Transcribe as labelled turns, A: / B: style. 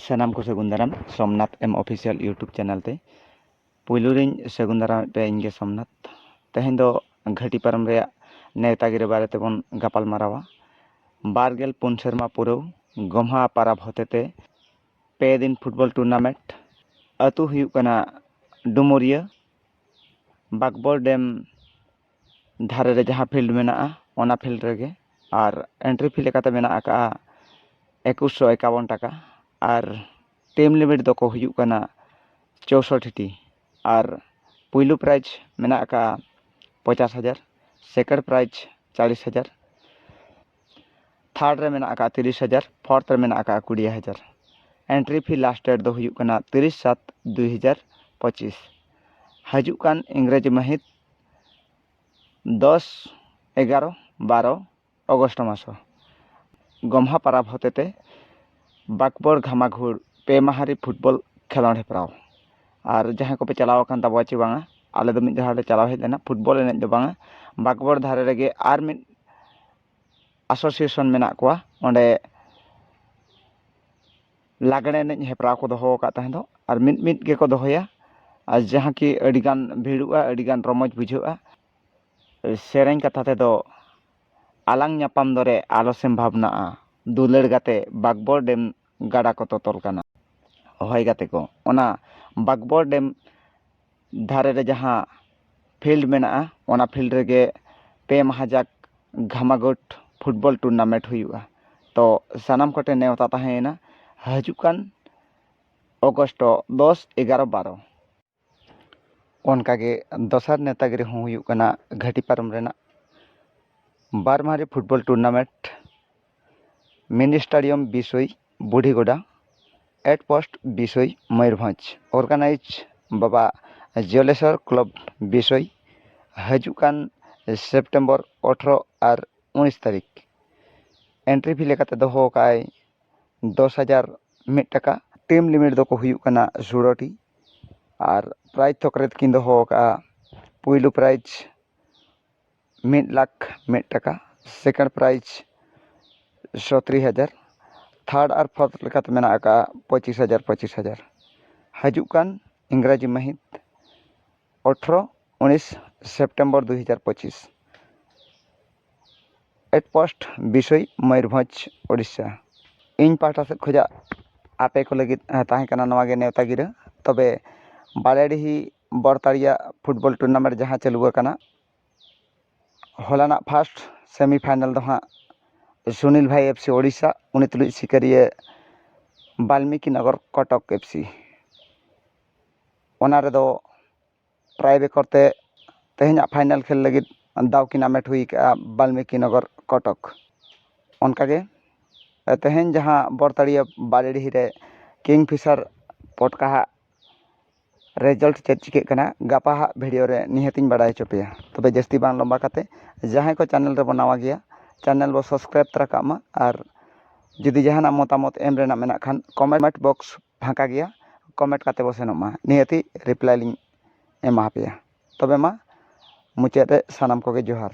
A: ᱥᱟᱱᱟᱢ ᱠᱚ ᱥᱟᱹᱜᱩᱱ ᱫᱟᱨᱟᱢ ᱥᱳᱢᱱᱟᱛᱷ ᱮᱢ ᱚᱯᱷᱤᱥᱤᱭᱟᱞ ᱤᱭᱩᱴᱩᱵᱽ ᱪᱮᱱᱮᱞ ᱛᱮ ᱯᱩᱭᱞᱩ ᱨᱮᱧ ᱥᱟᱹᱜᱩᱱ ᱫᱟᱨᱟᱢᱮᱫ ᱯᱮᱭᱟ ᱤᱧᱜᱮ ᱥᱳᱢᱱᱟᱛᱷ ᱛᱮᱦᱮᱧ ᱫᱚ ᱜᱷᱟᱹᱴᱤ ᱯᱟᱨᱚᱢ ᱨᱮᱭᱟᱜ ᱱᱮᱣᱛᱟ ᱜᱤᱨᱟᱹ ᱵᱟᱨᱮ ᱛᱮᱵᱚᱱ ᱜᱟᱯᱟᱞ ᱢᱟᱨᱟᱣᱟ ᱵᱟᱨ ᱜᱮᱞ ᱯᱩᱱ ᱥᱮᱨᱢᱟ ᱯᱩᱨᱟᱹᱣ ᱜᱚᱢᱦᱟ ᱯᱟᱨᱟᱵᱽ ᱦᱚᱛᱮᱛᱮ ᱯᱮ ᱫᱤᱱ ᱯᱷᱩᱴᱵᱚᱞ ᱴᱩᱨᱱᱟᱢᱮᱱᱴ ᱟᱹᱛᱩ ᱦᱩᱭᱩᱜ ᱠᱟᱱᱟ ᱰᱩᱢᱩᱨᱤᱭᱟᱹ ᱵᱟᱸᱠᱵᱚᱲ ᱰᱮᱢ ᱫᱷᱟᱨᱮ ᱨᱮ ᱡᱟᱦᱟᱸ ᱯᱷᱤᱞᱰ ᱢᱮᱱᱟᱜᱼᱟ ᱚᱱᱟ ᱯᱷᱤᱞᱰ ᱨᱮᱜᱮ ᱟᱨ ᱮᱱᱴᱨᱤ ᱯᱷᱤ ᱞᱮᱠᱟᱛᱮ ᱢᱮᱱᱟᱜ ᱟᱠᱟᱫᱼᱟ ᱮᱠᱩᱥ ᱥᱚ ᱮᱠᱟᱵᱚᱱ ᱴᱟᱠᱟ ᱟᱨ ᱴᱤᱢ ᱞᱤᱢᱤᱴ ᱫᱚᱠᱚ ᱦᱩᱭᱩᱜ ᱠᱟᱱᱟ ᱪᱳᱥᱳᱴᱴᱤ ᱴᱤ ᱟᱨ ᱯᱳᱭᱞᱳ ᱯᱨᱟᱭᱤᱡᱽ ᱢᱮᱱᱟᱜ ᱟᱠᱟᱫᱼᱟ ᱯᱚᱧᱪᱟᱥ ᱦᱟᱡᱟᱨ ᱥᱮᱠᱮᱱᱰ ᱯᱨᱟᱭᱤᱡᱽ ᱪᱚᱞᱞᱤᱥ ᱦᱟᱡᱟᱨ ᱛᱷᱟᱨᱰ ᱨᱮ ᱢᱮᱱᱟᱜ ᱟᱠᱟᱫᱼᱟ ᱛᱤᱨᱤᱥ ᱦᱟᱡᱟᱨ ᱯᱷᱳᱨᱛᱷ ᱨᱮ ᱢᱮᱱᱟᱜ ᱟᱠᱟᱫᱼᱟ ᱠᱩᱲᱤ ᱦᱟᱡᱟᱨ ᱮᱱᱴᱨᱤ ᱯᱷᱤ ᱞᱟᱥᱴ ᱰᱮᱴ ᱫᱚ ᱦᱩᱭᱩᱜ ᱠᱟᱱᱟ ᱛᱤᱨᱤᱥ ᱥᱟᱛ ᱫᱩ ᱦᱟᱡᱟᱨ ᱯᱚᱸᱪᱤᱥ ᱦᱤᱡᱩᱜ ᱠᱟᱱ ᱤᱝᱨᱮᱡᱤ ᱢᱟᱹᱦᱤᱛ ᱫᱚᱥ ᱮᱜᱟᱨᱚ ᱵᱟᱨᱚ ᱚᱜᱚᱥᱴ ᱢᱟᱥ ᱜᱚᱢᱦᱟ ᱯᱟᱨᱟᱵᱽ ᱦᱚᱛᱮ ᱛᱮ ᱵᱟᱸᱠᱵᱚᱲ ᱜᱷᱟᱢᱟᱜᱷᱩᱲ ᱯᱮ ᱢᱟᱦᱟ ᱨᱮ ᱯᱷᱩᱴᱵᱚᱞ ᱠᱷᱮᱞᱳᱰ ᱦᱮᱯᱨᱟᱣ ᱟᱨ ᱡᱟᱦᱟᱸᱭ ᱠᱚᱯᱮ ᱪᱟᱞᱟᱣ ᱟᱠᱟᱱ ᱛᱟᱵᱚᱱᱟ ᱪᱮ ᱵᱟᱝᱟ ᱟᱞᱮ ᱫᱚ ᱢᱤᱫ ᱫᱷᱟᱣ ᱞᱮ ᱪᱟᱞᱟᱣ ᱦᱮᱡ ᱞᱮᱱᱟ ᱯᱷᱩᱴᱵᱚᱞ ᱮᱱᱮᱡ ᱫᱚ ᱵᱟᱝᱟ ᱵᱟᱸᱠᱵᱚᱲ ᱫᱷᱟᱨᱮ ᱨᱮᱜᱮ ᱟᱨ ᱢᱤᱫ ᱮᱥᱳᱥᱤᱭᱮᱥᱚᱱ ᱢᱮᱱᱟᱜ ᱠᱚᱣᱟ ᱚᱸᱰᱮ ᱞᱟᱜᱽᱬᱮ ᱮᱱᱮᱡ ᱦᱮᱯᱨᱟᱣ ᱠᱚ ᱫᱚᱦᱚ ᱟᱠᱟᱫ ᱛᱟᱦᱮᱸ ᱫᱚᱜ ᱟᱨ ᱢᱤᱫ ᱢᱤᱫ ᱜᱮᱠᱚ ᱫᱚᱦᱚᱭᱟ ᱟᱨ ᱡᱟᱦᱟᱸ ᱠᱤ ᱟᱹᱰᱤ ᱜᱟᱱ ᱵᱷᱤᱲᱚᱜᱼᱟ ᱟᱹᱰᱤ ᱜᱟᱱ ᱨᱚᱢᱚᱡᱽ ᱵᱩᱡᱷᱟᱹᱜᱼᱟ ᱥᱮᱨᱮᱧ ᱠᱟᱛᱷᱟ ᱛᱮᱫᱚ ᱟᱞᱟᱝ ᱧᱟᱯᱟᱢ ᱫᱚᱨᱮ ᱟᱞᱚ ᱥᱮᱢ ᱵᱷᱟᱵᱽᱱᱟᱜᱼᱟ ᱫᱩᱞᱟᱹᱲ ᱜᱟᱛᱮ ᱵᱟᱸᱠᱵᱚᱲ ᱰᱮᱢ ᱜᱟᱰᱟ ᱠᱚ ᱛᱚᱛᱚᱞ ᱠᱟᱱᱟ ᱦᱚᱭ ᱜᱟᱛᱮ ᱠᱚ ᱚᱱᱟ ᱵᱟᱸᱠᱵᱚᱲ ᱰᱮᱢ ᱫᱷᱟᱨᱮ ᱨᱮ ᱡᱟᱦᱟᱸ ᱯᱷᱤᱞᱰ ᱢᱮᱱᱟᱜᱼᱟ ᱚᱱᱟ ᱯᱷᱤᱞᱰ ᱨᱮᱜᱮ ᱯᱮ ᱢᱟᱦᱟ ᱡᱟᱠ ᱜᱷᱟᱢᱟᱜᱳᱴ ᱯᱷᱩᱴᱵᱚᱞ ᱴᱩᱨᱱᱟᱢᱮᱱᱴ ᱦᱩᱭᱩᱜᱼᱟ ᱛᱚ ᱥᱟᱱᱟᱢ ᱠᱚᱴᱷᱮᱱ ᱱᱮᱶᱛᱟ ᱛᱟᱦᱮᱸᱭᱮᱱᱟ ᱦᱤᱡᱩᱜ ᱠᱟᱱ ᱚᱜᱚᱥᱴ ᱫᱚᱥ ᱮᱜᱟᱨᱚ ᱵᱟᱨᱚ ᱚᱱᱠᱟᱜᱮ ᱫᱚᱥᱟᱨ ᱱᱮᱶᱛᱟ ᱜᱤᱨᱟᱹ ᱦᱚᱸ ᱦᱩᱭᱩᱜ ᱠᱟᱱᱟ ᱜᱷᱟᱹᱴᱤ ᱯᱟᱨᱚᱢ ᱨᱮᱱᱟᱜ ᱵᱟᱨ ᱢᱟᱦᱟ ᱨᱮ ᱯᱷᱩᱴᱵᱚᱞ ᱴᱩᱨᱱᱟᱢᱮᱱᱴ ᱢᱤᱱᱤ ᱥᱴᱮᱰᱤᱭᱟᱢ ᱵᱤᱥᱳᱭ ᱵᱩᱰᱷᱤ ᱜᱚᱰᱟ at post Bisoi Mayurbhanj organise Baba Jaleswar club ᱵᱤᱥᱳᱭ ᱦᱤᱡᱩᱜ ᱠᱟᱱ ᱥᱮᱯᱴᱮᱢᱵᱚᱨ ᱟᱴᱷᱨᱚ ᱟᱨ ᱩᱱᱤᱥ ᱛᱟᱹᱨᱤᱠᱷ ᱮᱱᱴᱨᱤ ᱯᱷᱤ ᱞᱮᱠᱟᱛᱮ ᱫᱚᱦᱚ ᱟᱠᱟᱫ ᱟᱭ ᱫᱚᱥ ᱦᱟᱡᱟᱨ ᱢᱤᱫ ᱴᱟᱠᱟ ᱴᱤᱢ ᱞᱤᱢᱤᱴ ᱫᱚᱠᱚ ᱦᱩᱭᱩᱜ ᱠᱟᱱᱟ ᱥᱳᱞᱳ ᱴᱤ ᱟᱨ ᱯᱨᱟᱭᱤᱡᱽ ᱛᱷᱚᱠ ᱨᱮᱠᱤᱱ ᱫᱚᱦᱚ ᱟᱠᱟᱫᱼᱟ ᱯᱳᱭᱞᱳ ᱯᱨᱟᱭᱤᱡᱽ ᱢᱤᱫ ᱞᱟᱠᱷ ᱢᱤᱫ ᱴᱟᱠᱟ ᱥᱮᱠᱮᱱᱰ ᱯᱨᱟᱭᱤᱡᱽ ᱥᱚᱛᱨᱤ ᱦᱟᱡᱟᱨ ᱛᱷᱟᱨᱰ ᱟᱨ ᱯᱷᱳᱨᱛᱷ ᱞᱮᱠᱟᱛᱮ ᱢᱮᱱᱟᱜ ᱟᱠᱟᱫᱼᱟ ᱯᱚᱸᱪᱤᱥ ᱦᱟᱡᱟᱨ ᱯᱚᱸᱪᱤᱥ ᱦᱟᱡᱟᱨ ᱦᱤᱡᱩᱜ ᱠᱟᱱ ᱤᱝᱨᱟᱡᱤ ᱢᱟᱹᱦᱤᱛ ᱟᱴᱷᱨᱚ ᱩᱱᱤᱥ ᱥᱮᱯᱴᱮᱢᱵᱚᱨ ᱫᱩ ᱦᱟᱡᱟᱨ ᱯᱚᱸᱪᱤᱥ ᱮᱴ ᱯᱳᱥᱴ ᱵᱤᱥᱳᱭ ᱢᱚᱭᱩᱨᱵᱷᱚᱸᱡᱽ ᱳᱰᱤᱥᱟ ᱤᱧ ᱯᱟᱦᱴᱟ ᱥᱮᱫ ᱠᱷᱚᱱᱟᱜ ᱟᱯᱮ ᱠᱚ ᱞᱟᱹᱜᱤᱫ ᱛᱟᱦᱮᱸ ᱠᱟᱱᱟ ᱱᱚᱣᱟ ᱜᱮ ᱱᱮᱶᱛᱟ ᱜᱤᱨᱟᱹ ᱛᱚᱵᱮ ᱵᱟᱲᱮᱰᱤᱦᱤ ᱵᱚᱲᱛᱟᱲᱤᱭᱟ ᱯᱷᱩᱴᱵᱚᱞ ᱴᱩᱨᱱᱟᱢᱮᱱᱴ ᱡᱟᱦᱟᱸ ᱪᱟᱹᱞᱩ ᱟᱠᱟᱱᱟ ᱦᱚᱞᱟᱱᱟᱜ ᱯᱷᱟᱥᱴ ᱥᱮᱢᱤ ᱯᱷᱟᱭᱱᱮᱞ ᱫᱚ ᱦᱟᱸᱜ ᱥᱩᱱᱤᱞ ᱵᱷᱟᱭ ᱮᱯᱷ ᱥᱤ ᱳᱰᱤᱥᱟ ᱩᱱᱤ ᱛᱩᱞᱩᱡ ᱥᱤᱠᱟᱹᱨᱤᱭᱟᱹ ᱵᱟᱞᱢᱤᱠᱤ ᱱᱚᱜᱚᱨ ᱠᱚᱴᱚᱠ ᱮᱯᱷ ᱥᱤ ᱚᱱᱟ ᱨᱮᱫᱚ ᱴᱨᱟᱭ ᱨᱮᱠᱚᱨᱰ ᱛᱮ ᱛᱮᱦᱮᱧᱟᱜ ᱯᱷᱟᱭᱱᱮᱞ ᱠᱷᱮᱞ ᱞᱟᱹᱜᱤᱫ ᱫᱟᱣ ᱠᱤᱱ ᱦᱟᱢᱮᱴ ᱦᱩᱭ ᱠᱟᱜᱼᱟ ᱵᱟᱞᱢᱤᱠᱤ ᱱᱚᱜᱚᱨ ᱠᱚᱴᱚᱠ ᱚᱱᱠᱟ ᱜᱮ ᱛᱮᱦᱮᱧ ᱡᱟᱦᱟᱸ ᱵᱚᱲᱛᱟᱲᱤᱭᱟᱹ ᱵᱟᱲᱮᱰᱤᱦᱤ ᱨᱮ ᱠᱤᱝᱯᱷᱤᱥᱟᱨ ᱯᱚᱴᱠᱟ ᱦᱟᱜ ᱨᱮᱡᱟᱞᱴ ᱪᱮᱫ ᱪᱤᱠᱟᱹᱜ ᱠᱟᱱᱟ ᱜᱟᱯᱟ ᱦᱟᱸᱜ ᱵᱷᱤᱰᱤᱭᱳ ᱨᱮ ᱱᱤᱦᱟᱹᱛ ᱤᱧ ᱵᱟᱲᱟᱭ ᱦᱚᱪᱚ ᱯᱮᱭᱟ ᱛᱚᱵᱮ ᱡᱟᱹᱥᱛᱤ ᱵᱟᱝ ᱞᱚᱢᱵᱟ ᱠᱟᱛᱮᱫ ᱡᱟᱦᱟᱸᱭ ᱠᱚ ᱪᱮᱱᱮᱞ ᱨᱮᱵᱚᱱ ᱱᱟᱣᱟ ᱜᱮᱭᱟ ᱪᱮᱱᱮᱞ ᱵᱚᱱ ᱥᱟᱵᱥᱠᱨᱟᱭᱤᱵᱽ ᱛᱟᱨᱟ ᱠᱟᱜ ᱢᱟ ᱟᱨ ᱡᱩᱫᱤ ᱡᱟᱦᱟᱱᱟᱜ ᱢᱚᱛᱟᱢᱚᱛ ᱮᱢ ᱨᱮᱱᱟᱜ ᱢᱮᱱᱟᱜ ᱠᱷᱟᱱ ᱠᱚᱢᱮᱱᱴ ᱵᱚᱠᱥ ᱯᱷᱟᱸᱠᱟ ᱜᱮᱭᱟ ᱠᱚᱢᱮᱱᱴ ᱠᱟᱛᱮᱫ ᱵᱚᱱ ᱥᱮᱱᱚᱜ ᱢᱟ ᱱᱤᱦᱟᱹᱛᱤ ᱨᱤᱯᱞᱟᱭ ᱞᱤᱧ ᱮᱢᱟ ᱯᱮᱭᱟ ᱛᱚᱵᱮ ᱢᱟ ᱢᱩᱪᱟᱹᱫ ᱨᱮ ᱥᱟᱱᱟᱢ ᱠᱚᱜᱮ ᱡᱚᱦᱟᱨ